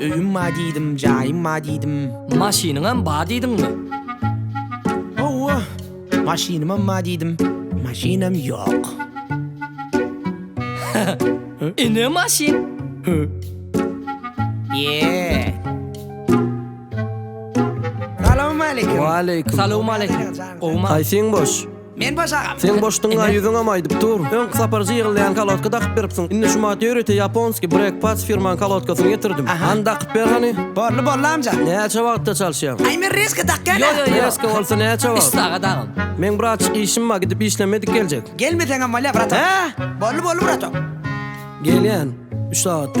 Öýüm bar diýdim, jaýym bar diýdim. Maşynyňam bar diýdiňmi? Hawa, maşynymam bar diýdim. Maşynam ýok. Ine maşyn. Ýee. Salowmaleýkim. Waleýkim. Salowmaleýkim. Gowmy? Haýsyň boş? Men boş agam. Seň boşduňa ýüzüňem aýdyp dur. Öňki sapar jygylýan kalotka dakyp beripsiň. Indi şu Mateorite Japonski Break Pads firmaň kalotkasyny getirdim. Hany dakyp ber hany. Borly borly amca. Näçe wagtda çalyşýaň? Aý men reska dakýan a. Reska bolsa näçe wagt? Üç sagat agam. Meň bratjyk işim bar gidip işlemedik geljek. Gelmeseňem bolýa bratok. Hä? Borly borly bratok. Gelýän üç sagatda.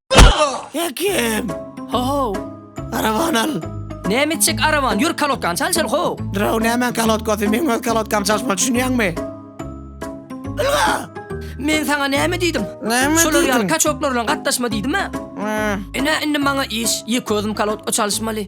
Hekim! Ho-ho! Araban al! Näme etjek araban? Ýör kalotkany çal içeri, ho! Draw nämäň kalotkasy? Meň öz kalotkamy çalyşmaly, düşünýäňmi? Ylga! Men saňa näme diýdim? Näme Şolar ýaly diýdiň? kaçoklar bilen gatnaşma diýdim-ä. Hä. Ine, indi maňa iş. Ýeke özüm kalotka çalyşmaly.